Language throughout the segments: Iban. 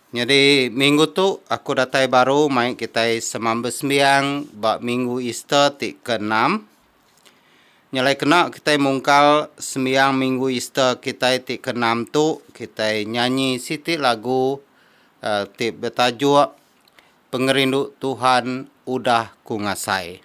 Nyadi minggu tu aku datai baru mai kitai semamba sembiang ba minggu Easter ti keenam. Nyelai kena kitai mungkal sembiang minggu Easter kitai ti keenam tu kitai nyanyi siti lagu eh, ti betajuk Pengerindu Tuhan Udah Ku Ngasai.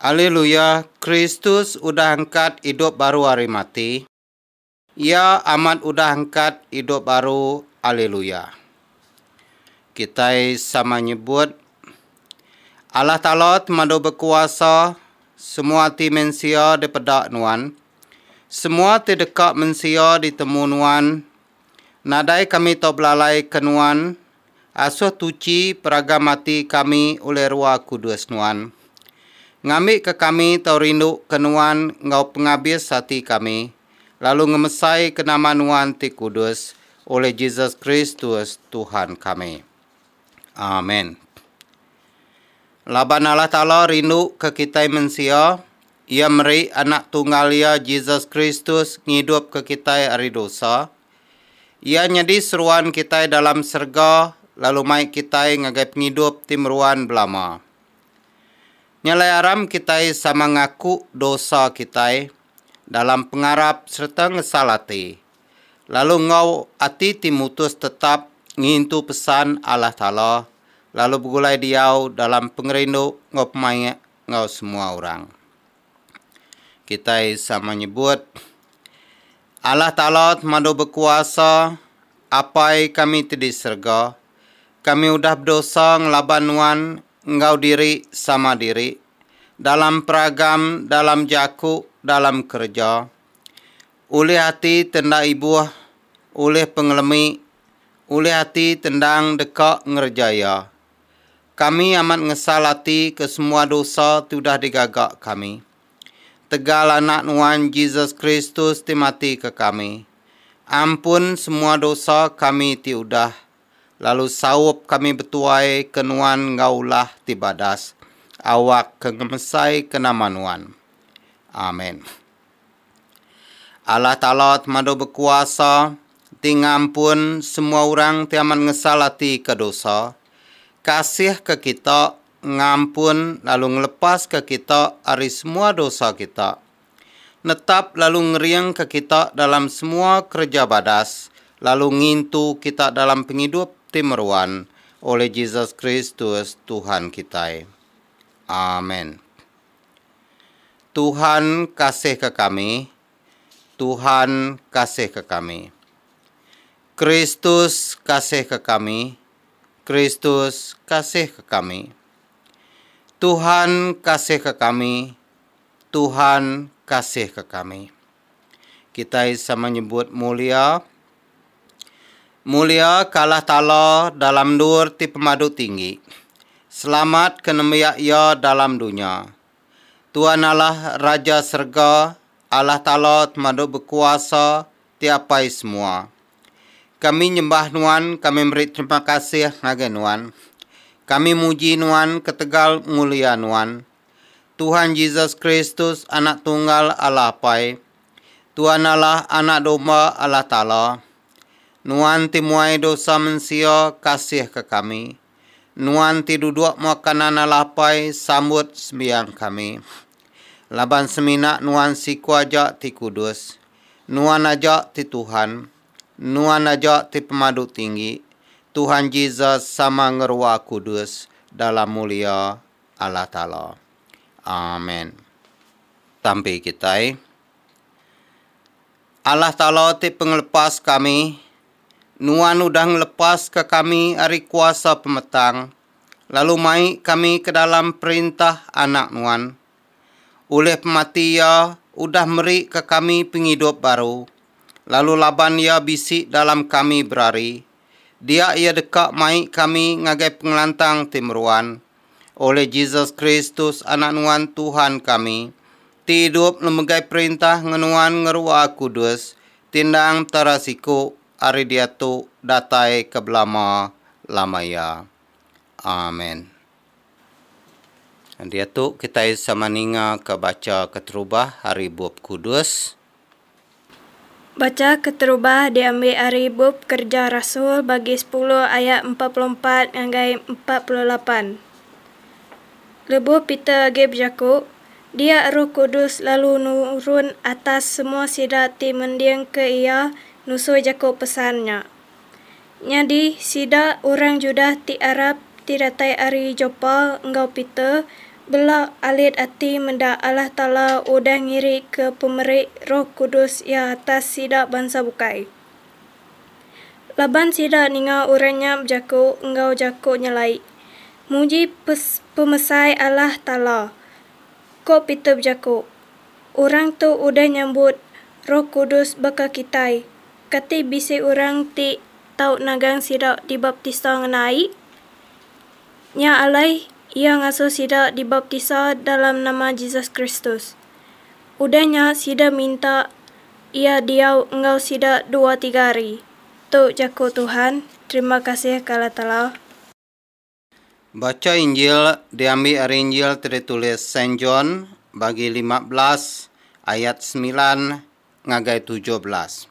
Aliluya, Kristus udah angkat idup baru ari mati, Iya amat udah angkat idup baru Aliluya. Kitai sama nyebut, Allah Taala temadu bekuasa, semua ati mensia dipeda Nuan, semua ti deka mensia ditemu Nuan, nadai kami tau belalaika Nuan Asoh tuchi peragam ati kami ulih rua kudus Nuan. Ngambika kami tau rinduka Nuan enggau pengabis ati kami, lalu ngemesaika nama Nuan ti kudus, ulih Jesus Kristus, Tuhan kami. Amen. Laban Allah Taala rinduka kitai mensia, Iya meri Anak Tunggal Iya, Jesus Kristus, ngidupka kitai ari dosa, Iya nyadi seruan kitai dalam serega lalu mai kitai ngagai pengidup ti meruan belama. Nya alai aram kitai sama ngaku dosa kitai dalam pengarap sereta ngesal ati, lalu enggau ati ti mutus tetap ngintu pesan Allah Taala lalu begulai diau dalam pengerindu enggau pemaik enggau semua orang. Kitai sama nyebut Allah Taala temadu bekuasa, Apai kami ti di serega, kami udah bedosa ngelaban Nuan enggau diri sama diri, dalam peragam, dalam jaku, dalam kereja, ulih ati ti enda ibuh, ulih pengelemi, ulih ati ti endang deka ngereja iya. Kami amat ngesal ati ke semua dosa ti udah digaga kami. Tegal Anak Nuan Jesus Kristus ti mati ke kami, ampun semua dosa kami ti udah, lalu saup kami betuai ke Nuan enggau ulah ti badas, awak ke ngemesaika nama Nuan. Amen. Allah Taala Temadu Bekuasa, ti ngampun semua orang ti amat ngesal ati ke dosa, kasihka kita ngampun lalu ngelepaska kita ari semua dosa kita, netap lalu ngeringka kita dalam semua kereja badas lalu ngintu kita dalam pengidup ti meruan oleh Jesus Kristus Tuhan kitai. Amen. Tuhan kasihka kami, Tuhan kasihka kami. Kristus kasihka kami, Kristus kasihka kami. Tuhan kasihka kami, Tuhan kasihka kami. Kitai sama nyebut mulia. Mulia ke Allah Taala dalam endur ti pemadu tinggi. Selamat ke nembiak Iya dalam dunya. Tuhan Allah Raja serega, Allah Taala Temadu Bekuasa, Ti Apai Semua. Kami nyembah Nuan, kami meri terima kasih ngagai Nuan. Kami muji Nuan ketegal mulia Nuan. Tuhan Jesus Kristus, Anak Tunggal Allah Apai. Tuan Allah, Anak Domba Allah Taala. Nuan ti muai dosa mensia, kasihka kami. Nuan ti duduk mua kanan alah apai sambut sembiang kami. Laban semina Nuan siku aja ti kudus, Nuan aja ti Tuhan, Nuan aja ti Pemadu Tinggi, Tuhan Jesus sama ngerua kudus dalam mulia Allah Taala. Amen. Tampi kitai. Allah Taala ti pengelepas kami. Nuan udah ngelepaska kami ari kuasa pemetang, lalu mai kami ke dalam perintah Anak Nuan. Ulih pemati Iya udah merika kami pengidup baru, lalu laban Iya bisi dalam kami berari, dia Iya deka mai kami ngagai pengelantang ti meruan. oleh Jesus Kristus Anak Nuan Tuhan kami, ti idup ngemegai perintah ngan Nuan ngeruwa kudus, ti endang tara siku ari diatu datai ke belama lama iya. Amen. Diatu kitai sama ningaka bacha keterubah ari Bup Kudus. Bacha keterubah diambi ari Bup Kereja Rasul bagi sepuluh ayat empat puluh empat ngagai empat puluh lapan. Lebuh Peter agi bejaku, dia Roh Kudus lalu nurun atas semua sida ti mendingka iya nusui jaku pesan nya. Nyadi, sida orang Judah ti Arab ti datai ari Joppa enggau Peter bela alit ati meda Allah Taala udah ngirika pemeri Roh Kudus Iya atas sida bansa bukai. Laban sida ninga orang nya bejaku enggau jaku nyelai, Muji pemesai Allah Taala! Ko Peter bejaku, Orang tu udah nyambut Roh Kudus baka kitai. Kati bisi orang ti tau nagang sida dibaptisa ngena ai? Nya alai, iya ngasuh sida dibaptisa dalam nama Jesus Kristus. Udah nya sida minta Iya diau enggau sida dua tiga hari. Tu jaku Tuhan, terima kasih ke Allah Taala. Bacha Injil diambi ari Injil ti ditulis Saint John bagi lima belas ayat semilan ngagai tujuh belas.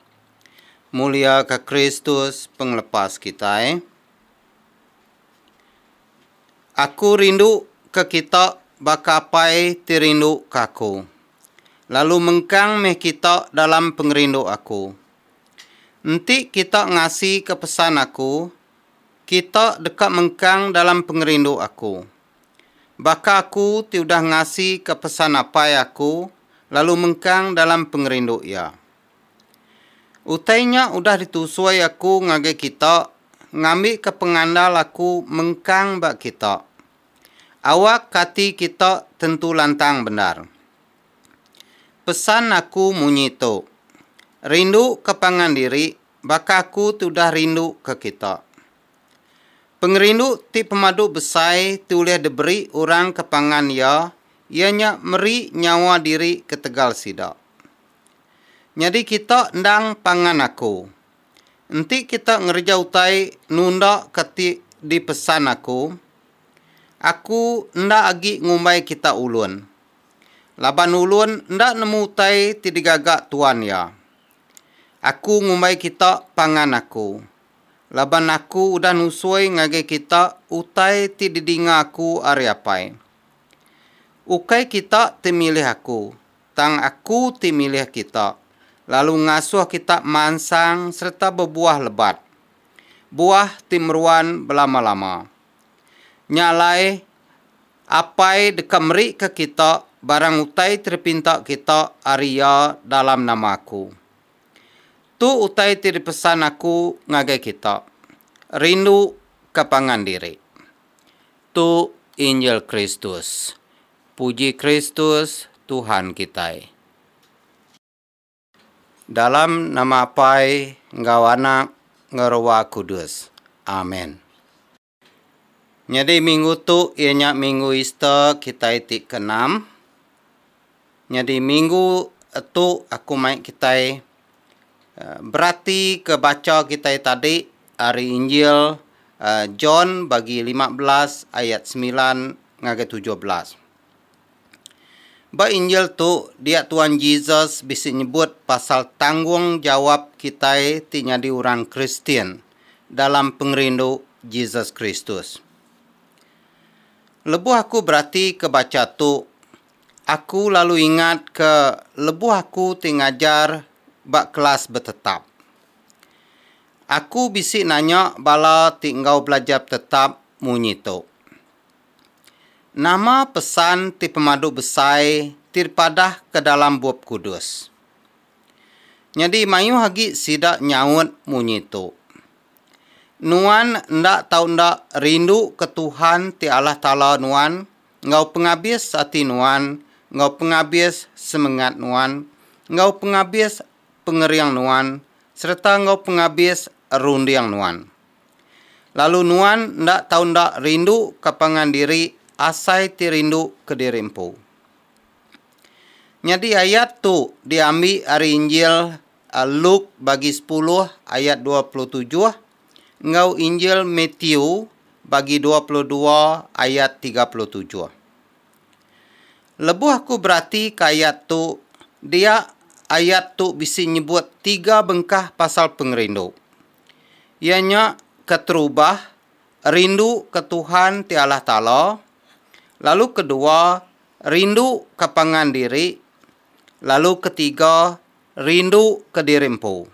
Muliaka Kristus pengelepas kitai. Aku rindu ke kita baka Apai ti rindu ke aku. Lalu mengkang meh kita dalam pengerindu aku. Enti kita ngasika pesan aku Kita deka mengkang dalam pengerindu aku. Baka aku ti udah ngasika pesan Apai aku lalu mengkang dalam pengerindu Iya. Utai nya udah ditusui aku ngagai kita ngambika pengandal aku mengkang ba kita. Awak ati kita tentu lantang bendar. Pesan aku munyi tu, Rinduka pangan diri baka aku ti udah rinduka kita. Pengerindu ti pemadu besai ti ulih diberi orang ke pangan iya, iya nya meri nyawa diri ketegal sida. Nyadi kita endang pangan aku. Enti kita ngereja utai nundaka ti dipesan aku, aku enda agi ngumbai kita ulun. Laban ulun enda nemu utai ti digaga Tuan iya. Aku ngumbai kita pangan Aku, laban Aku udah nusoi ngagai kita utai ti didinga Aku ari Apai. Ukai kita ti milih Aku, tang Aku ti milih kita lalu ngasuh kita mansang sereta bebuah lebat, buah ti meruan belama-lama. Nya alai, Apai deka merika kita barang utai ti dipinta kita ari Iya dalam nama aku. Tu utai ti dipesan aku ngagai kita, rinduka pangan diri. Tu Injil Kristus. Puji Kristus, Tuhan kitai. Dalam nama Apai enggau Anak enggau Roh Kudus. Amen. Nyadi minggu tu iya nya minggu Easter kitai ti keenam. Nyadi minggu tu aku mai kitai beratika bacha kitai tadi ari Injil John bagi lima belas ayat semilan ngagai tujuh belas. Ba Injil tu, dia Tuan Jesus bisi nyebut pasal tanggungjawap kitai ti nyadi orang Kristian dalam pengerindu Jesus Kristus. Lebuh aku beratika bacha tu, aku lalu ingatka lebuh aku ti ngajar ba kelas betetap. Aku bisi nanya bala ti enggau belajar betetap munyi tu. Nama pesan ti pemadu besai ti dipadahka dalam Bup Kudus? Nyadi mayuh agi sida nyaut munyi tu. Nuan enda tau enda rinduka Tuhan ti Allah Taala nuan enggau pengabis ati nuan, enggau pengabis semengat nuan, enggau pengabis pengering nuan sereta enggau pengabis runding nuan. Lalu nuan enda tau enda rindu ka pangan diri asai ti rindu kediri empu. Nyadi ayat tu diambi ari Injil Luke bagi sepuluh ayat dua puluh tujuh enggau Injil Matthew bagi dua puluh dua ayat tiga puluh tujuh. Lebuh aku beratika ayat tu, dia ayat tu bisi nyebut tiga bengkah pasal pengerindu. Iya nya keterubah rindu ke Tuhan ti Allah Taala, lalu kedua rindu ke pangan diri, lalu ketiga rindu ke diri empu.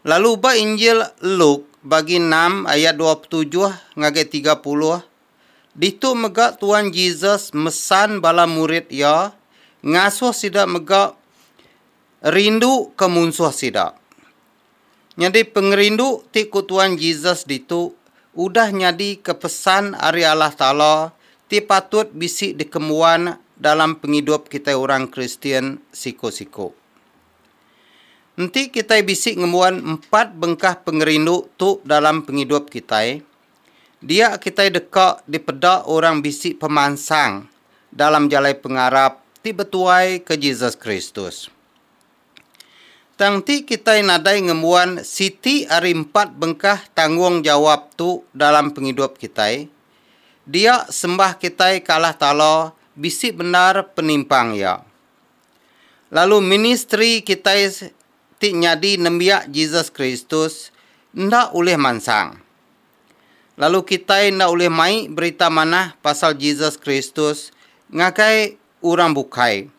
Lalu ba Injil Luke bagi enam ayat dua petujuh ngagai tiga puluh, ditu mega Tuan Jesus mesan bala murid iya ngasuh sida mega rindu ke munsuh sida. Nyadi pengerindu ti ku Tuan Jesus ditu udah nyadika pesan ari Allah Taala ti patut bisi dikembuan dalam pengidup kitai orang Kristian siku-siku. Enti kitai bisi ngembuan empat bengkah pengerindu tu dalam pengidup kitai, Dia kitai deka dipeda orang bisi pemansang dalam jalai pengarap ti betuaika Jesus Kristus. Tang enti kitai nadai ngembuan siti ari empat bengkah tanggunggjawap tu dalam pengidup kitai, dia sembah kitai ke Allah Taala bisi bendar penimpang iya. Lalu ministri kitai ti nyadi nembiak Jesus Kristus enda ulih mansang. Lalu kitai enda ulih mai berita manah pasal Jesus Kristus ngagai orang bukai.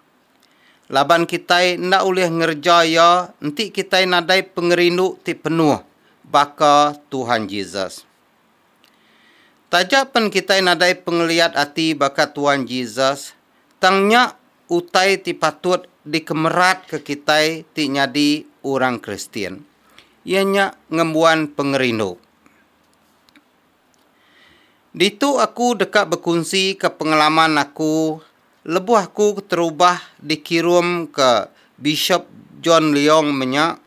Laban kitai enda ulih ngereja iya enti kitai nadai pengerindu ti penuh baka Tuhan Jesus. Taja pen kitai nadai pengeliat ati baka Tuhan Jesus, tang nya utai ti patut dikemeratka kitai ti nyadi orang Kristian, iya nya ngembuan pengerindu. Ditu aku deka bekunsika pengalaman aku lebuh aku keterubah dikirumka Bishop John Leong menya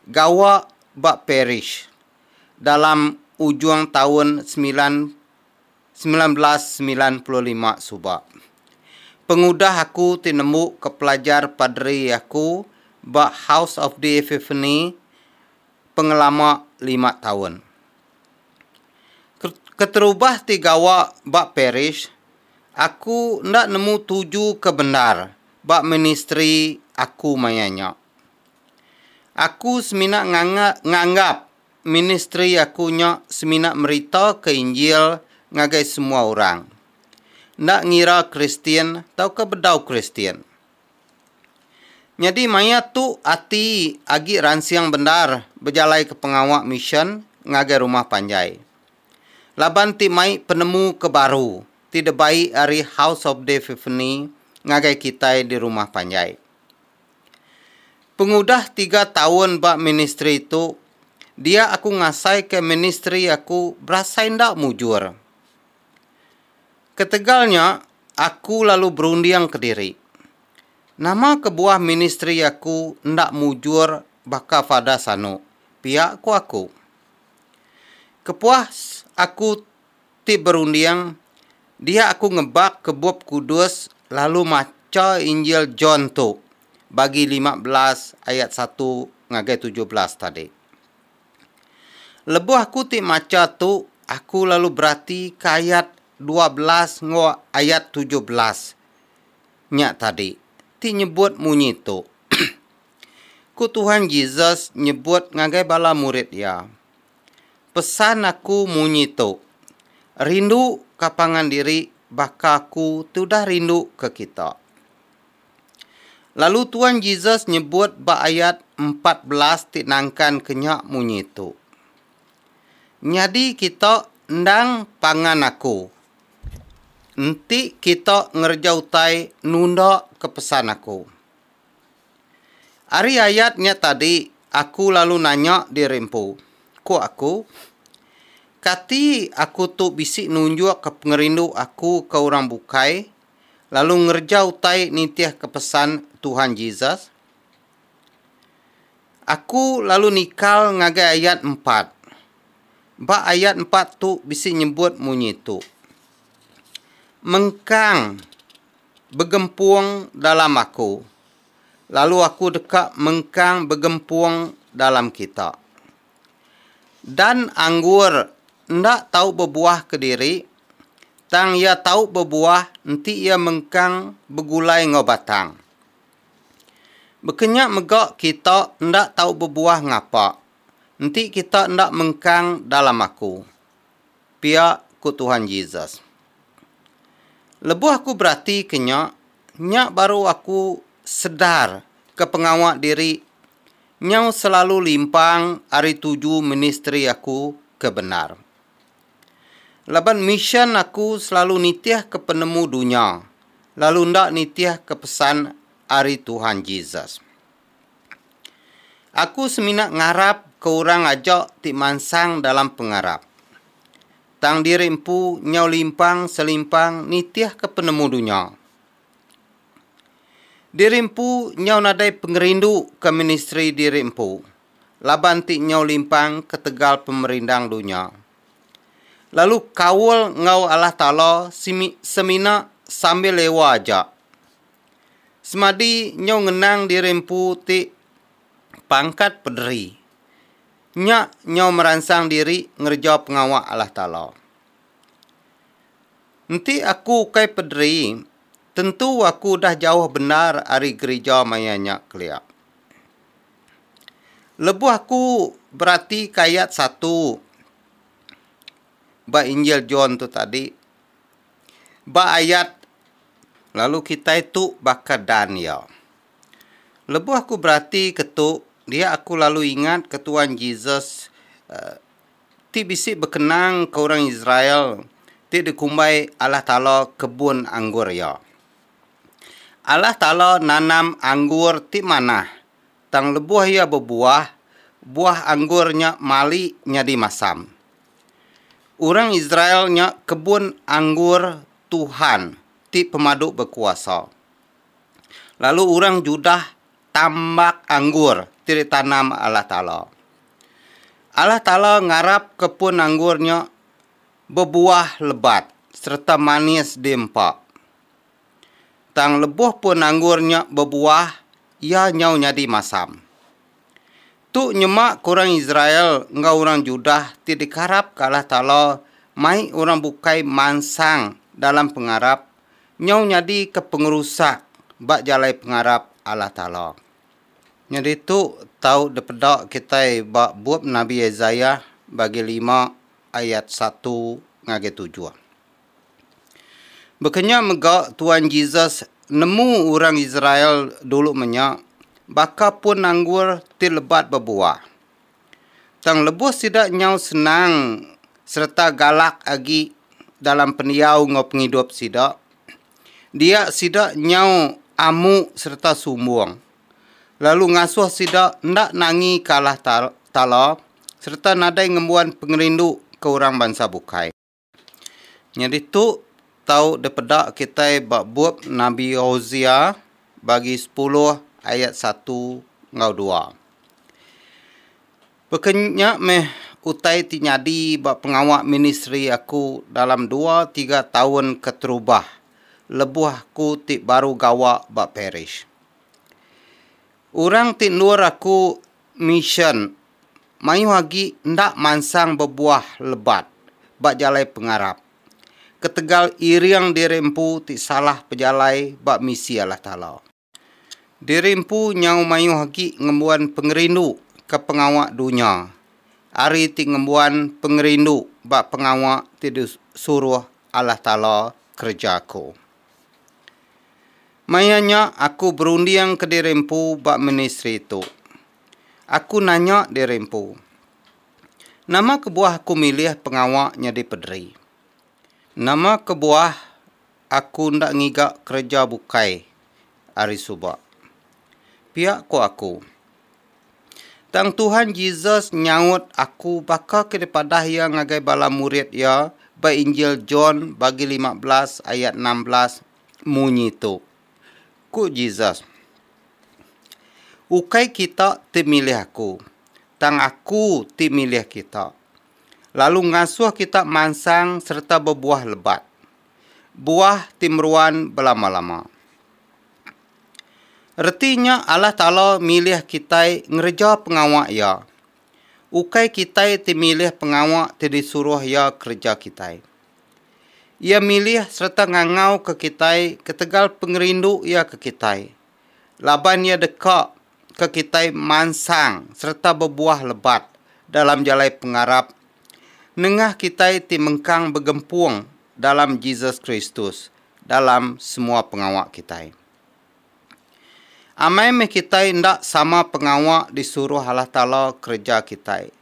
gawa ba parish dalam ujung taun semilan semilan belas semilan puluh lima suba. Pengudah aku ti nembu ke pelajar paderi aku ba House of the Epiphany pengelama lima taun. Keterubah ti gawa ba parish, aku enda nemu tuju ke bendar ba ministri aku maya nya. Aku semina nganggap ministri aku nya semina meritaka Injil ngagai semua orang, enda ngira Kristian tauka bedau Kristian. Nyadi maya tu ati agi ransing bendar bejalaika pengawa misyen ngagai rumah panjai. Laban ti mai penemu ke baru ti debai ari House of Dave Epiphany ngagai kitai di rumah panjai. Pengudah tiga taun ba ministri tu, dia aku ngasaika ministri aku berasai enda mujur. Ketegal nya, aku lalu berunding kediri, Nama kebuah ministri aku enda mujur baka Fada Sanu? pia ku aku. Kepuas aku ti berunding, dia aku ngebak ke Bup Kudus lalu macha Injil John tu bagi lima belas ayat satu ngagai tujuh belas tadi. Lebuh aku ti macha tu, aku lalu berati ke ayat dua belas enggau ayat tujuh belas nya tadi ti nyebut munyi tu, Ku Tuhan Jesus nyebut ngagai bala murid iya, Pesan aku munyi tu, rindu ka pangan diri baka aku tudah rindu ka kita. Lalu Tuan Jesus nyebut ba ayat empat belas ti nangkan ke nya munyi tu. Nyadi kita endang pangan aku. Enti kita ngereja utai nunda ke pesan aku. Ari ayat nya tadi aku lalu nanya diri empu, ku aku, Kati aku tu bisi nunjukka pengerindu aku ke orang bukai lalu ngereja utai nitihka pesan Tuhan Jesus? Aku lalu nikal ngagai ayat empat. Ba ayat empat tu bisi nyebut munyi tu, Mengkang. begempung dalam aku, lalu aku deka mengkang begempung dalam kita. Dan anggur enda tau bebuah kediri, tang iya tau bebuah enti iya mengkang begulai enggau batang. Baka nya mega kita enda tau bebuah ngapa, enti kita enda mengkang dalam aku. pia ku Tuhan Jesus. Lebuh aku beratika nya, nya baru aku sedar ke pengawa diri nyau selalu limpang ari tuju ministri aku ke bendar. Laban misyen aku selalu nitihka penemu dunya lalu enda nitihka pesan ari Tuhan Jesus. Aku semina ngarap ke orang aja ti mansang dalam pengarap. Tang diri empu nyau limpang selimpang nitihka penemu dunya. Diri empu nyau nadai pengerindu ke ministri diri empu laban ti nyau limpang ketegal pemerindang dunya. Lalu kaul enggau Allah Taala semina sambil lewa aja. Semadi nyau ngenang diri empu ti pangkat pederi. Nya nyau meransang diri ngereja pengawa Allah Taala. Enti aku ukai pederi, tentu aku udah jauh bendar ari gerija maya nya kelia. Lebuh aku beratika ayat satu ba Injil John tu tadi, Ba ayat, Lalu kitai tu baka dan iya. Lebuh aku beratika tu, dia aku lalu ingatka Tuan Jesus ti bisi bekenangka orang Israel ti dikumbai Allah Taala kebun anggur iya. Allah Taala nanam anggur ti manah, tang lebuh iya bebuah, buah anggur nya mali nyadi masam. Orang Israel nya kebun anggur Tuhan ti pemadu bekuasa. Lalu orang Judah tambak anggur ti ditanam Allah Taala. Allah Taala ngarapka pun anggur nya bebuah lebat sereta manis diempa. Tang lebuh pun anggur nya bebuah, iya nyau nyadi masam. Tu nyema ke orang Israel enggau orang Judah ti dikarapka Allah Taala mai orang bukai mansang dalam pengarap nyau nyadika pengerusak ba jalai pengarap Allah Taala. Nyadi tu tau dipeda kitai ba bup Nabi Isaiah bagi lima ayat satu ngagai tujuh. Bekenya mega Tuan Jesus nemu orang Israel dulu menya baka pun anggur ti lebat bebuah. Tang lebuh sida nyau senang sereta galak agi dalam pendiau enggau pengidup sida, dia sida nyau amu sereta sumbung, lalu ngasuh sida enda nangi ke Allah Taala sereta nadai ngembuan pengerindu ke orang bansa bukai. Nyadi tu tau dipeda kitai ba bup Nabi Hosea bagi sepuluh ayat satu enggau dua. Baka nya meh utai ti nyadi ba pengawa ministri aku dalam dua tiga taun keterubah lebuh aku ti baru gawa ba parish. Orang ti endur aku misyen mayuh agi enda mansang bebuah lebat ba jalai pengarap ketegal iring diri empu ti salah pejalai ba misi Allah Taala. Diri empu nyau mayuh agi ngembuan pengerindu ke pengawa dunya ari ti ngembuan pengerindu ba pengawa ti disuruh Allah Taala kereja aku. Maya nya aku berunding ke diri empu ba ministri tu. Aku nanya diri empu, Nama kebuah aku milih pengawa nyadi pederi? Nama kebuah aku enda ngiga kereja bukai ari suba? Pia ko aku. Tang Tuhan Jesus nyaut aku baka ke dipadah iya ngagai bala murid iya ba Injil John bagi lima belas ayat enam belas munyi tu. Ku Jesus, Ukai kita ti milih aku, tang aku ti milih kita, lalu ngasuh kita mansang sereta bebuah lebat, buah ti meruan belama-lama. Reti nya Allah Taala milih kitai ngereja pengawa Iya. Ukai kitai ti milih pengawa ti disuruh Iya kereja kitai. Iya milih sereta ngangauka kitai ketegal pengerindu Iya ke kitai, laban Iya deka ke kitai mansang sereta bebuah lebat dalam jalai pengarap nengah kitai ti mengkang begempung dalam Jesus Kristus dalam semua pengawa kitai. Amai meh kitai enda sama pengawa disuruh Allah Taala kereja kitai.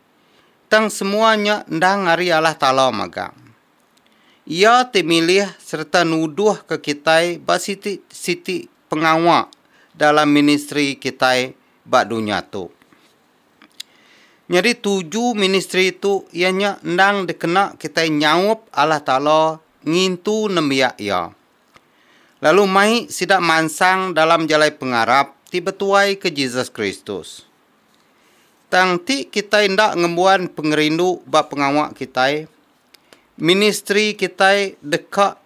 tang semua nya endang ari Allah Taala magang. Iya ti milih sereta nuduhka kitai ba siti-siti pengawa dalam ministri kitai ba dunya tu. Nyadi tuju ministri tu iya nya endang dikena kitai nyaup Allah Taala ngintu nembiak Iya, lalu mai sida mansang dalam jalai pengarap ti betuaika Jesus Kristus. Tang ti kitai enda ngembuan pengerindu ba pengawa kitai, ministri kitai deka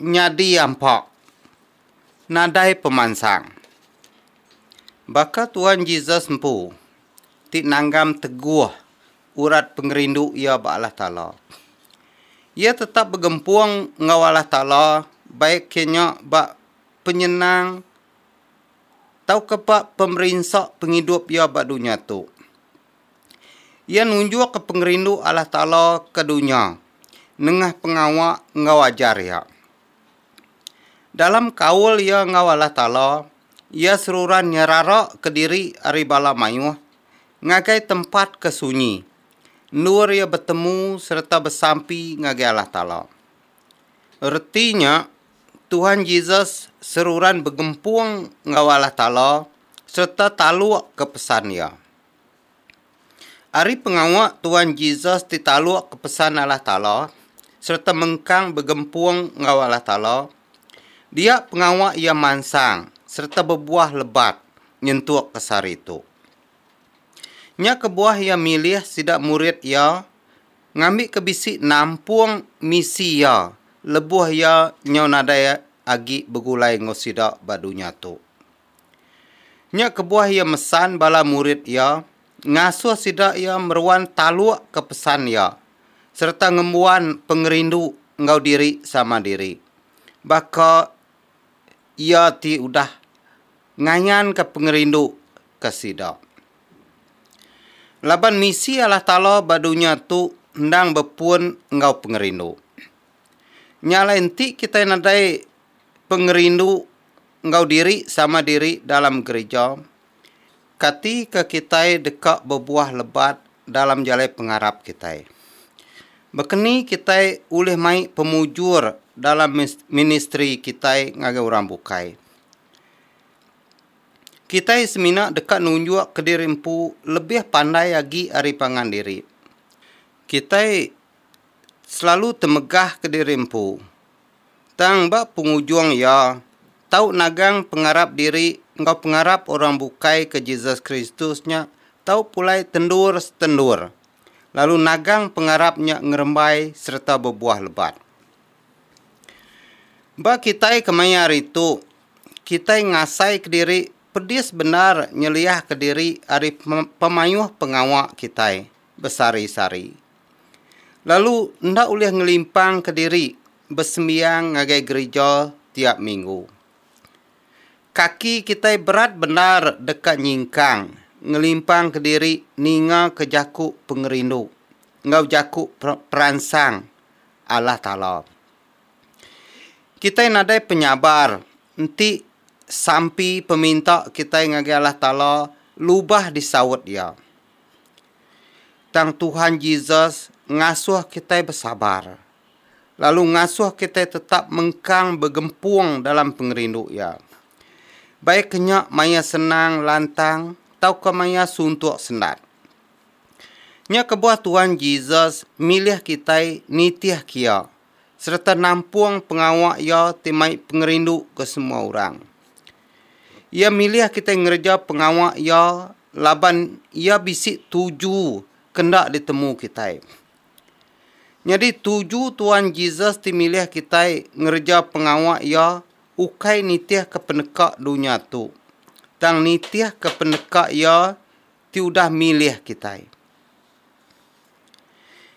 nyadi ampa nadai pemansang. Baka Tuan Jesus empu ti nanggam teguh urat pengerindu iya ba Allah Taala, iya tetap begempung enggau Allah Taala baik ke nya ba penyenang tauka ba pemerinsa pengidup iya ba dunya tu. Iya nunjukka pengerindu Allah Taala ke dunya nengah pengawa enggau ajar iya. Dalam kaul iya enggau Allah Taala, iya seruran nyeraraka diri ari bala mayuh ngagai tempat ke sunyi, endur iya betemu sereta besampi ngagai Allah Taala. Reti nya, Tuhan Jesus seruran begempung enggau Allah Taala sereta talukka pesan Iya. Ari pengawa Tuhan Jesus ti talukka pesan Allah Taala sereta mengkang begempung enggau Allah Taala, dia pengawa iya mansang sereta bebuah lebat nyentuk ke sehari tu. Nya kebuah iya milih sida murid iya Ngambika bisi nampung misi iya lebuh iya nyau nadai agi begulai enggau sida ba dunya tu. Nya kebuah iya mesan bala murid iya ngasuh sida iya meruan talukka pesan iya sereta ngembuan pengerindu enggau diri sama diri baka Iya ti udah ngayanka pengerindu ke sida. Laban misi Allah Taala ba dunya tu endang bepun enggau pengerindu. Nya alai enti kitai nadai pengerindu enggau diri sama diri dalam gerija, kati ke kitai deka bebuah lebat dalam jalai pengarap kitai? Bekeni kitai ulih mai pemujur dalam ministri kitai ngagai orang bukai? kitai semina deka nunjukka diri empu lebih pandai agi ari pangan diri. Kitai selalu temegahka diri empu, tang ba pengujung iya tau nagang pengarap diri enggau pengarap orang bukai ke Jesus Kristus nya tau pulai tendur setendur lalu nagang pengarap nya ngerembai sereta bebuah lebat. Ba kitai kemaya hari tu, kitai ngasai kediri pedis bendar nyeliah kediri ari pemayuh pengawa kitai besari-sari. Lalu enda ulih ngelimpang kediri besembiang ngagai gerija tiap minggu. Kaki kitai berat bendar deka nyingkang ngelimpang kediri ningaka jaku pengerindu enggau jaku peransang Allah Taala. Kitai nadai penyabar enti sampi peminta kitai ngagai Allah Taala lubah disaut Iya. Tang Tuhan Jesus ngasuh kitai besabar, lalu ngasuh kitai tetap mengkang begempung dalam pengerindu Iya. Baik ke nya maya senang lantang tauka maya suntuk sendat. Nya kebuah Tuhan Jesus milih kitai nitihka Iya. sereta nampung pengawa iya ti mai pengerindu ke semua orang. Iya milih kitai ngereja pengawa iya laban iya bisi tuju ke enda ditemu kitai. Nyadi tuju Tuan Jesus ti milih kitai ngereja pengawa iya ukai nitihka peneka dunya tu, tang nitihka peneka iya ti udah milih kitai.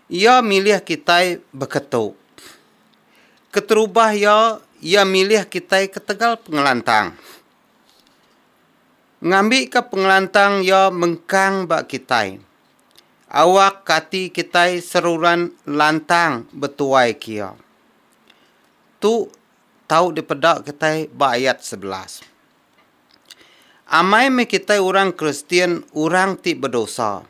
Iya milih kitai beketu. Keterubah iya, iya milih kitai ketegal pengelantang. Ngambika pengelantang iya mengkang ba kitai. Awak ati kitai seruran lantang betuai ke iya. Tu tau dipeda kitai ba ayat sebelas. Amai meh kitai orang Kristian orang ti bedosa.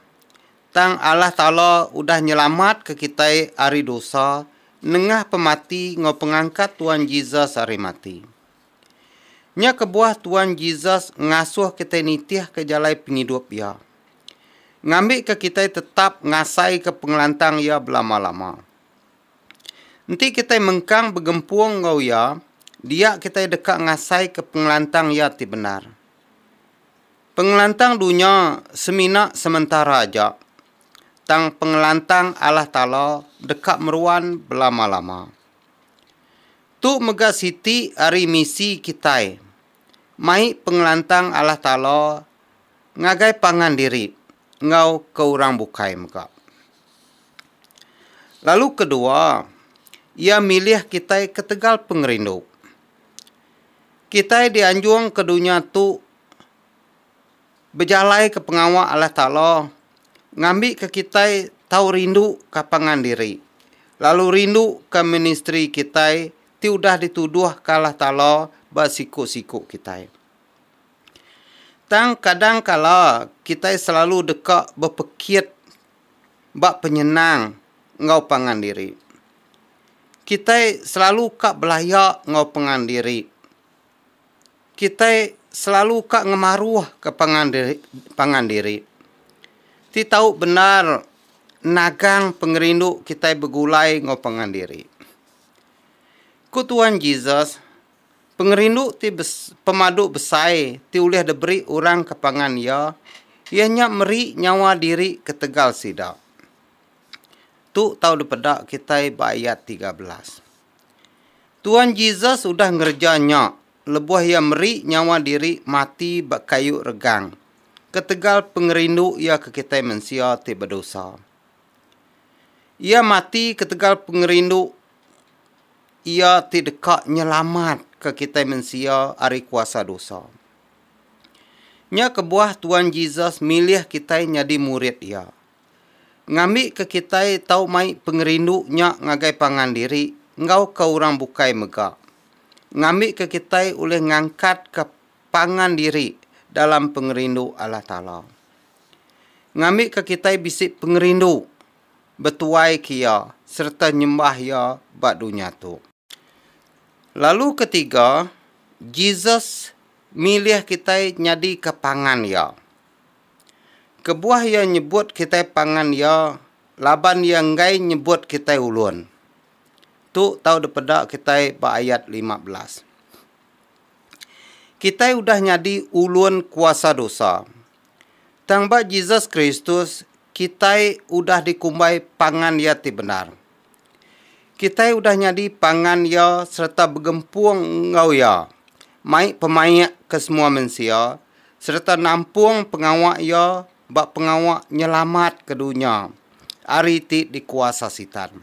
Tang Allah Taala udah nyelamatka kitai ari dosa nengah pemati enggau pengangkat Tuan Jesus ari mati. Nya kebuah Tuan Jesus ngasuh kitai nitihka jalai pengidup Iya, ngambika kitai tetap ngasaika pengelantang Iya belama-lama. Enti kitai mengkang begempung enggau Iya, dia kitai deka ngasaika pengelantang Iya ti bendar. Pengelantang dunya semina sementara aja, tang pengelantang Allah Taala deka meruan belama-lama. Tu mega siti ari misi kitai, mai pengelantang Allah Taala ngagai pangan diri. enggau ke orang bukai mega. Lalu kedua, iya milih kitai ketegal pengerindu. Kitai dianjung ke dunya tu bejalaika pengawa Allah Taala ngambika kitai tau rinduka pangan diri lalu rinduka ministri kitai ti udah dituduhka Allah Taala ba siku-siku kitai. Tang kadang kala kitai selalu deka bepekit ba penyenang enggau pangan diri. Kitai selalu ka belaya enggau pengan diri. Kitai selalu ka ngemaruhka pangan diri pangan diri. Ti tau bendar nagang pengerindu kitai begulai enggau pangan diri. Ku Tuan Jesus, Pengerindu ti pemadu besai ti ulih diberi orang ke pangan iya, iya nya meri nyawa diri ketegal sida. Tu tau dipeda kitai ba ayat tiga belas. Tuan Jesus udah ngereja nya lebuh iya meri nyawa diri mati ba kayu regang ketegal pengerindu iya ke kitai mensia ti bedosa. Iya mati ketegal pengerindu. Iya ti deka nyelamatka kitai mensia ari kuasa dosa. Nya kebuah Tuan Jesus milih kitai nyadi murid Iya. Ngambika kitai tau mai pengerindu nya ngagai pangan diri enggauka orang bukai mega ngambika kitai ulih ngangkatka pangan diri dalam pengerindu Allah Taala. Ngambika kitai bisi pengerindu. betuai ke Iya sereta nyembah Iya ba dunya tu. Lalu ketiga, Jesus milih kitai nyadika pangan Iya. Kebuah Iya nyebut kitai pangan Iya laban Iya enggai nyebut kitai ulun. Tu tau dipeda kitai ba ayat lima belas. Kitai udah nyadi ulun kuasa dosa. Tang ba Jesus Kristus, Kitai udah dikumbai pangan Iya ti bendar. Kitai udah nyadi pangan Iya sereta begempung enggau Iya, mai pemaik ke semua mensia, sereta nampung pengawa Iya ba pengawa nyelamat ke dunya ari ti dikuasa Sitan.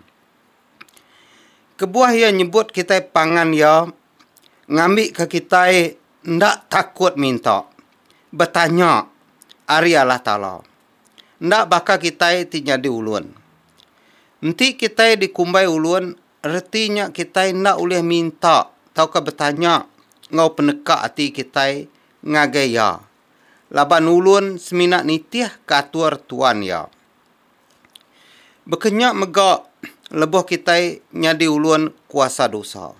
Kebuah Iya nyebut kitai pangan Iya, ngambika kitai enda takut minta, betanya, ari Allah Taala. Enda baka kitai ti nyadi ulun. Enti kitai dikumbai ulun, reti nya kitai enda ulih minta tauka betanya enggau peneka ati kitai ngagai Iya, laban ulun semina nitihka atur Tuan iya. Baka nya mega lebuh kitai nyadi ulun kuasa dosa.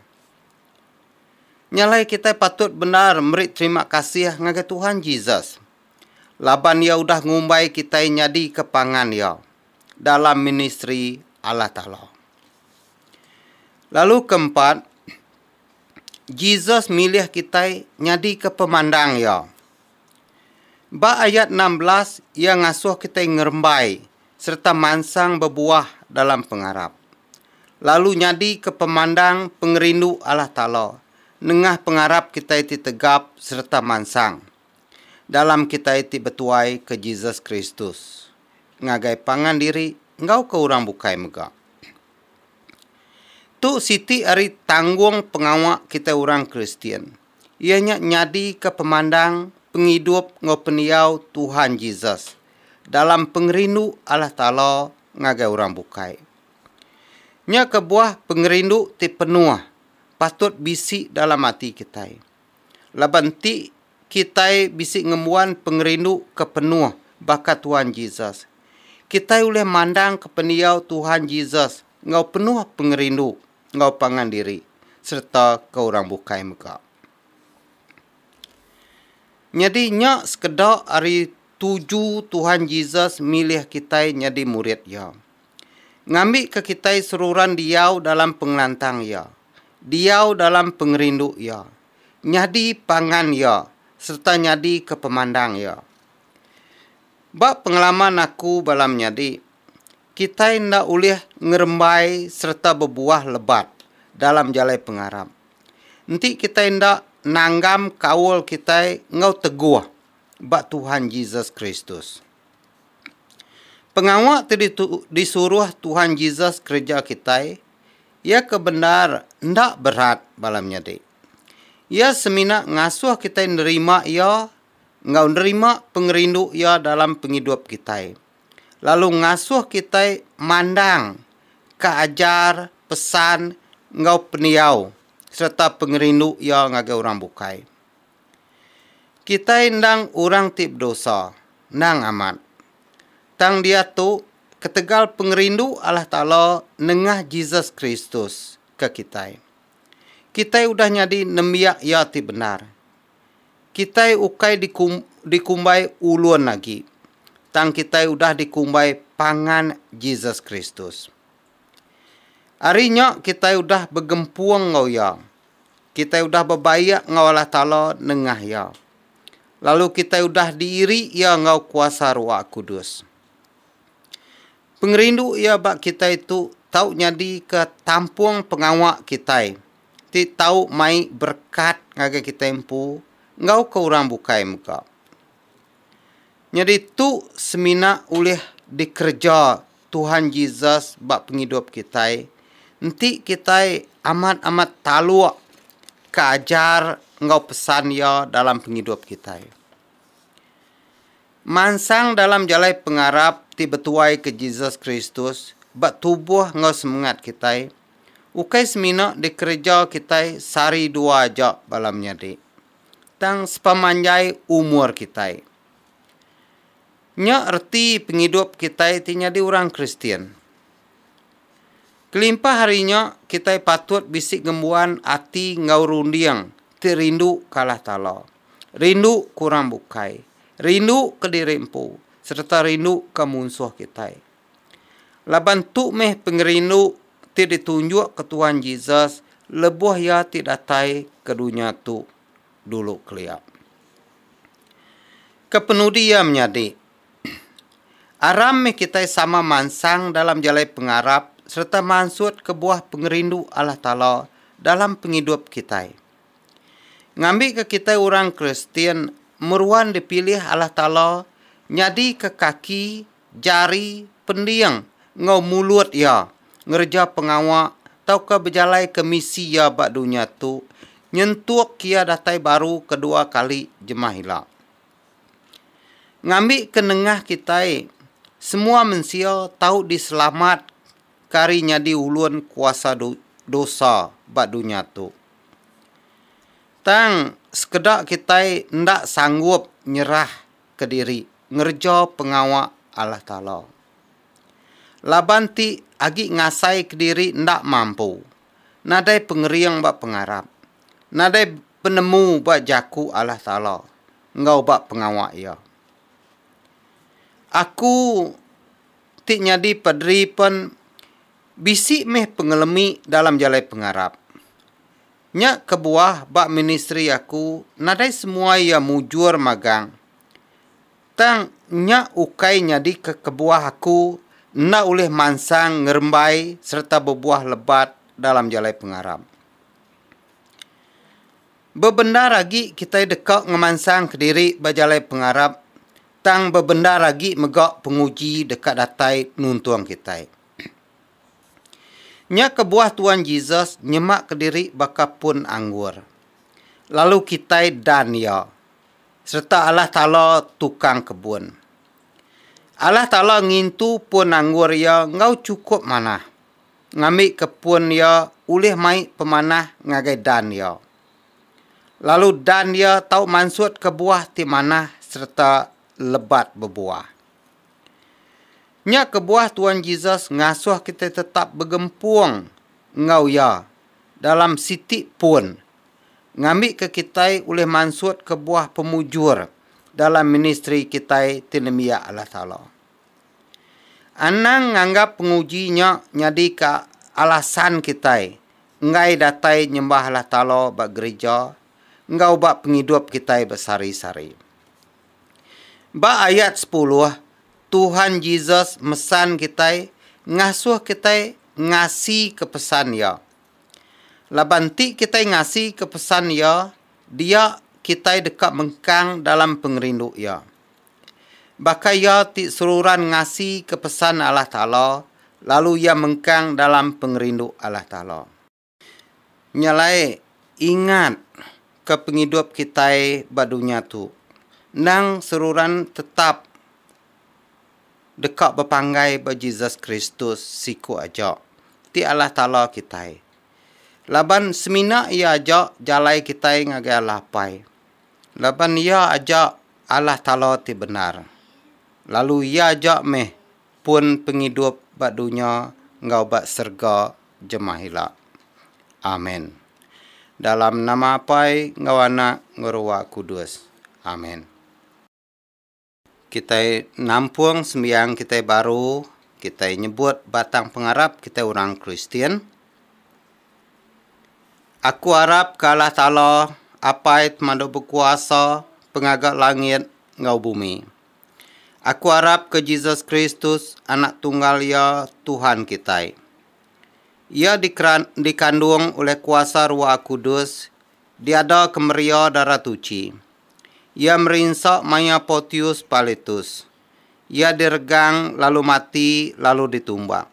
Nya alai kitai patut bendar meri terima kasih ngagai Tuhan Jesus laban iya udah ngumbai kitai nyadika pangan iya dalam ministri Allah Taala. Lalu ke empat, Jesus milih kitai nyadika pemandang iya. Ba ayat enam belas, iya ngasuh kitai ngerembai sereta mansang bebuah dalam pengarap, lalu nyadika pemandang pengerindu Allah Taala nengah pengarap kitai ti tegap sereta mansang. dalam kitai ti betuai ke Jesus Kristus ngagai pangan diri enggau ke orang bukai mega. Tu siti ari tanggung pengawa kitai orang Kristian, iya nya nyadika pemandang, pengidup enggau pendiau Tuhan Jesus dalam pengerindu Allah Taala ngagai orang bukai. Nya kebuah pengerindu ti penuh patut bisi dalam ati kitai. Laban ti, kitai bisi ngembuan pengerindu ke penuh baka Tuhan Jesus. Kitai ulih mandangka pendiau Tuhan Jesus enggau penuh pengerindu enggau pangan diri sereta ke orang bukai mega. Nyadi nya sekeda ari tuju Tuhan Jesus milih kitai nyadi murid Iya. Ngambika kitai seruran diau dalam pengelantang Iya, diau dalam pengerindu iya, nyadi pangan iya sereta nyadika pemandang iya. Ba pengalaman aku bala menyadi, kitai enda ulih ngerembai sereta bebuah lebat dalam jalai pengarap. Enti kitai enda nanggam kaul kitai enggau teguh ba Tuhan Jesus Kristus. Pengawa ti disuruh Tuhan Jesus kereja kitai. Iya ke bendar enda berat bala menyadi. Iya semina ngasuh kitai nerima Iya enggau nerima pengerindu Iya dalam pengidup kitai, lalu ngasuh kitai mandang ka ajar, pesan, enggau pendiau sereta pengerindu Iya ngagai orang bukai. Kitai endang orang ti bedosa, endang amat. Tang diatu, ketegal pengerindu Allah Taala nengah Jesus Kristus ke kitai. Kitai udah nyadi nembiak Iya ti bendar. Kitai ukai dikumbai ulun agi, tang kitai udah dikumbai pangan Jesus Kristus. Ari nya kitai udah begempung enggau Iya. Kitai udah bebaik enggau Allah Taala nengah Iya. Lalu kitai udah diiri Iya enggau kuasa Ruah Kudus. Pengerindu iya ba kitai tu tau nyadika tampung pengawa kitai ti tau mai berekat ngagai kitai empu enggau ke orang bukai mega. Nyadi tu semina ulih dikereja Tuhan Jesus ba pengidup kitai enti kitai amat-amat taluk ke ajar enggau pesan iya dalam pengidup kitai. Mansang dalam jalai pengarap ti betuaika Jesus Kristus ba tubuh enggau semengat kitai, ukai semina dikereja kitai sehari dua aja bala menyadi, tang sepemanjai umur kitai. Nya reti pengidup kitai ti nyadi orang Kristian. Kelimpah ari nya, kitai patut bisi ngembuan ati enggau runding ti rindu ke Allah Taala, rindu ke orang bukai, rindu ke diri empu sereta rindu ke munsuh kitai. Laban tu meh pengerindu ti ditunjukka Tuhan Jesus lebuh iya ti datai ke dunya tu dulu kelia. Kepenudi iya menyadi? Aram mih kitai sama mansang dalam jalai pengarap sereta mansut kebuah pengerindu Allah Taala dalam pengidup kitai. Ngambika kitai orang Kristian meruan dipilih Allah Taala nyadika kaki, jari, pending enggau mulut iya ngereja pengawa tauka bejalaika misi iya ba dunya tu nyentuk iya datai baru kedua kali jemah ila. Ngambika nengah kitai, semua mensia tau diselamatka ari nyadi ulun kuasa dosa ba dunya tu. Tang sekeda kitai enda sanggup nyerah kediri ngereja pengawa Allah Taala. Laban ti agi ngasai kediri enda mampu, nadai pengering ba pengarap. nadai penemu ba jaku Allah Taala enggau ba pengawa Iya. Aku ti nyadi paderi pen bisi meh pengelemi dalam jalai pengarap. Nya kebuah ba ministri aku nadai semua iya mujur magang tang nya ukai nyadika kebuah aku enda ulih mansang ngerembai sereta bebuah lebat dalam jalai pengarap. Bebendar agi kitai deka ngemansang kediri ba jalai pengarap tang bebendar agi mega penguji deka datai nuntung kitai. Nya kebuah Tuan Jesus nyema kediri baka pun anggur, lalu kitai dan iya sereta Allah Taala tukang kebun. Allah Taala ngintu pun anggur iya enggau chukup manah. ngambika pun iya ulih mai pemanah ngagai dan iya. Lalu dan iya tau mansutka buah ti manah sereta lebat bebuah. Nya kebuah Tuan Jesus ngasuh kitai tetap begempung enggau iya dalam siti pun ngambika kitai ulih mansutka buah pemujur dalam ministri kitai ti nembiak Allah Taala. Anang nganggap penguji nya nyadika alasan kitai enggai datai nyembah Allah Taala ba gerija enggau ba pengidup kitai besehari-sehari. Ba ayat sepuluh, Tuhan Jesus mesan kitai ngasuh kitai ngasika pesan Iya. Laban enti kitai ngasika pesan Iya, dia kitai deka mengkang dalam pengerindu Iya. Baka iya ti seruran ngasika pesan Allah Taala, lalu iya mengkang dalam pengerindu Allah Taala. Nya alai, ingat ka pengidup kitai ba dunya tu endang seruran tetap deka bepanggai ba Jesus Kristus siku aja, ti Allah Taala kitai. Laban semina iya aja jalai kitai ngagai Allah Apai. laban iya aja Allah Taala ti bendar, lalu iya aja meh pun pengidup ba dunya enggau ba serega jemah ila. Amen. Dalam nama Apai enggau Anak enggau Rua Kudus. Amen. Kitai nampung sembiang kitai baru, kitai nyebut batang pengarap kitai orang Kristian, Aku arap ke Allah Taala, Apai Temadu Bekuasa, Pengaga langit enggau bumi. Aku arap ke Jesus Kristus, Anak Tunggal Iya, Tuhan kitai. Iya dikandung ulih kuasa Ruah Kudus Diada kemeria Dara Tuchi. Iya merinsa maya Portius Pilatus. Iya diregang lalu mati lalu ditumbak.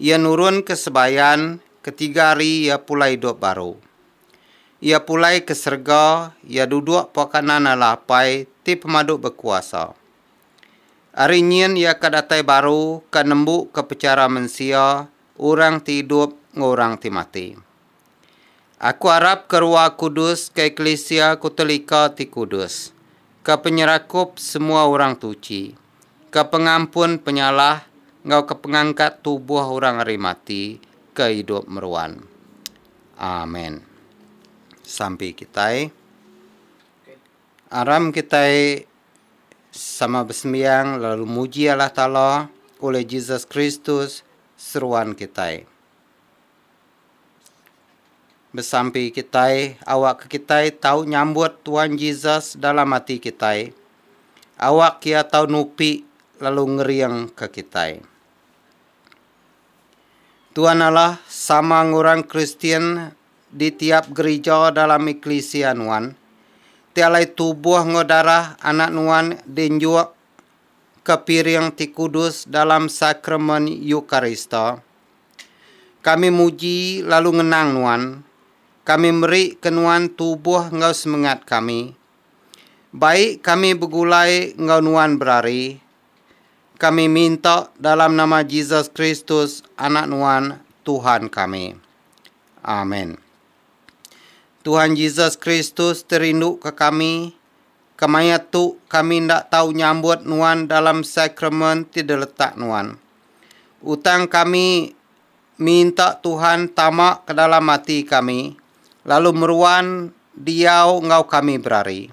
Iya nurun ke sebayan, ketiga hari iya pulai idup baru. Iya pulai ke serega, iya duduk pua kanan Allah Apai ti pemadu bekuasa. Ari nyin iya ka datai baru ka nembuka pechara mensia orang ti idup enggau orang ti mati. Aku arap ke Rua Kudus ke eklisia ku telika ti kudus, ke penyerakup semua orang tuchi, ke pengampun penyalah enggau ke pengangkat tubuh orang ari mati ke idup meruan. Amen. Sampi kitai. Aram kitai sama besembiang lalu muji Allah Taala ulih Jesus Kristus seruan kitai. Besampi kitai awakka kitai tau nyambut Tuan Jesus dalam ati kitai, awak Iya tau nupi lalu ngeringka kitai. Tuan Allah sama enggau orang Kristian di tiap gerija dalam eklisia nuan, ti alai tubuh enggau darah anak nuan dienjuk ke piring ti kudus dalam Sakramen Eukarista. Kami muji lalu ngenang Nuan. Kami meri ke Nuan tubuh enggau semengat kami. Baik kami begulai enggau Nuan berari. Kami minta dalam nama Jesus Kristus, Anak Nuan, Tuhan kami. Amen. Tuhan Jesus Kristus ti rindu ke kami, kemaya tu kami enda tau nyambut Nuan dalam sakramen ti diletak Nuan. Utang kami minta Tuhan tama ke dalam ati kami lalu meruan diau enggau kami berari.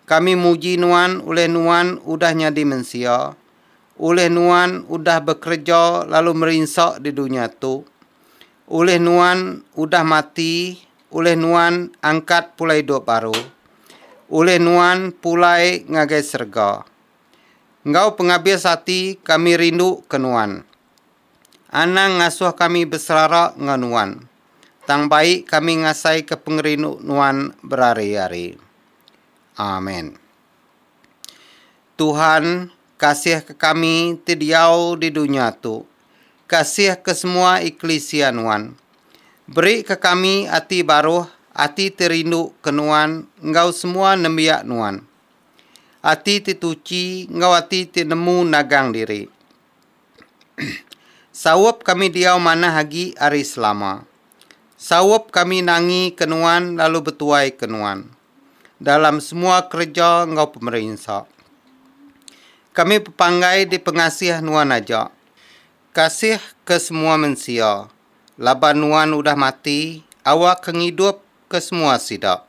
Kami muji nuan ulih nuan udah nyadi mensia, ulih nuan udah bekereja lalu merinsa di dunya tu, ulih nuan udah mati, ulih nuan angkat pulai idup baru, ulih nuan pulai ngagai serega. Enggau pengabis ati kami rindu ke Nuan. Anang ngasuh kami beserara enggau Nuan. Tang bai kami ngasaika pengerindu Nuan berari-ari. Amen. Tuhan, kasihka kami ti diau di dunya tu. Kasihka semua eklisia Nuan. Berika kami ati baruh, ati ti rindu ke Nuan enggau semua nembiak Nuan. Ati ti tuchi enggau ati ti nemu nagang diri. Saup kami diau manah agi ari selama. Saup kami nangi ke nuan lalu betuai ke nuan dalam semua kereja enggau pemerinsa. Kami bepanggai di pengasih nuan aja. Kasih ke semua mensia laban nuan udah mati awak ke ngidup ke semua sida.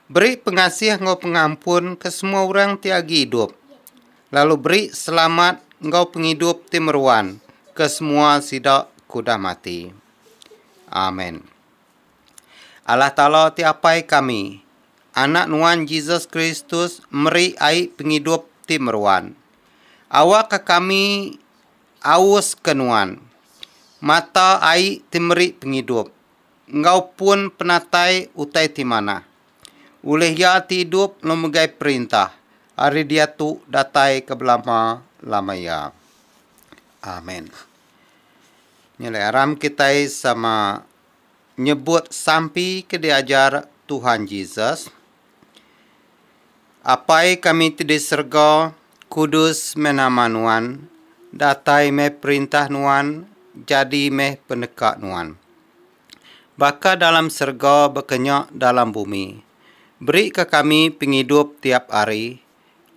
Beri pengasih enggau pengampun ke semua orang ti agi idup, lalu beri selamat enggau pengidup ti meruan ke semua sida ke udah mati. Amen. Allah Taala ti Apai kami, Anak Nuan Jesus Kristus meri ai pengidup ti meruan. Awakka kami aus ke Nuan, mata ai ti meri pengidup, enggau pun penatai utai ti manah. Ulih iya ti idup enggau megai perintah ari diatu datai ke belama-lama iya. Amen. Nyelai aram kitai sama nyebut sampi ke diajar Tuhan Jesus. Apai kami ti di serega, kudus meh nama Nuan, datai meh perintah Nuan, jadi meh peneka Nuan. Baka dalam serega baka nya dalam bumi. Berika kami pengidup tiap hari,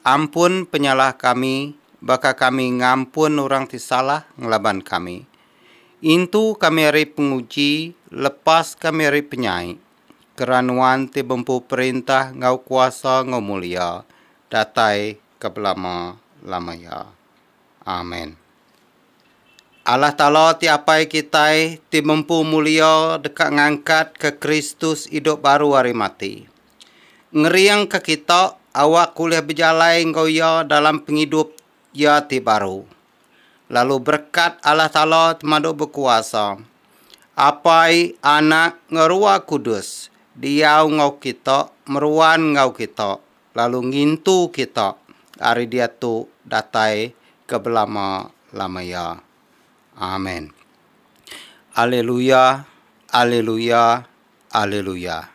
ampun penyalah kami baka kami ngampun orang ti salah ngelaban kami. Intu kami ari penguji, lepas kami ari penyai. kera nuan ti bempu perintah enggau kuasa enggau mulia datai ke belama-lama iya. Amen. Allah Taala ti Apai kitai ti bempu mulia deka ngangkatka Kristus idup baru ari mati. Ngeringka kita awak ulih bejalai enggau iya dalam pengidup Iya ti baru. Lalu berekat Allah Taala Temadu Bekuasa, Apai, Anak, enggau Ruah Kudus, diau enggau kita, meruan enggau kita, lalu ngintu kita ari diatu datai ke belama-lama iya. Amen. Alleluia, Alleluia, Alleluia.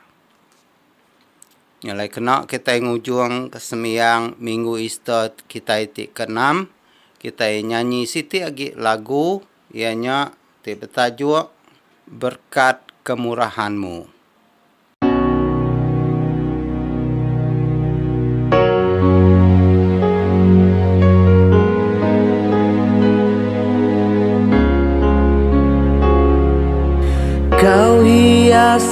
Nyelai kena kitai ngujung ke sembiang minggu Easter kitai ti keenam, kitai nyanyi siti agi lagu iya nya ti betajuk Berkat Kemurahan-Mu.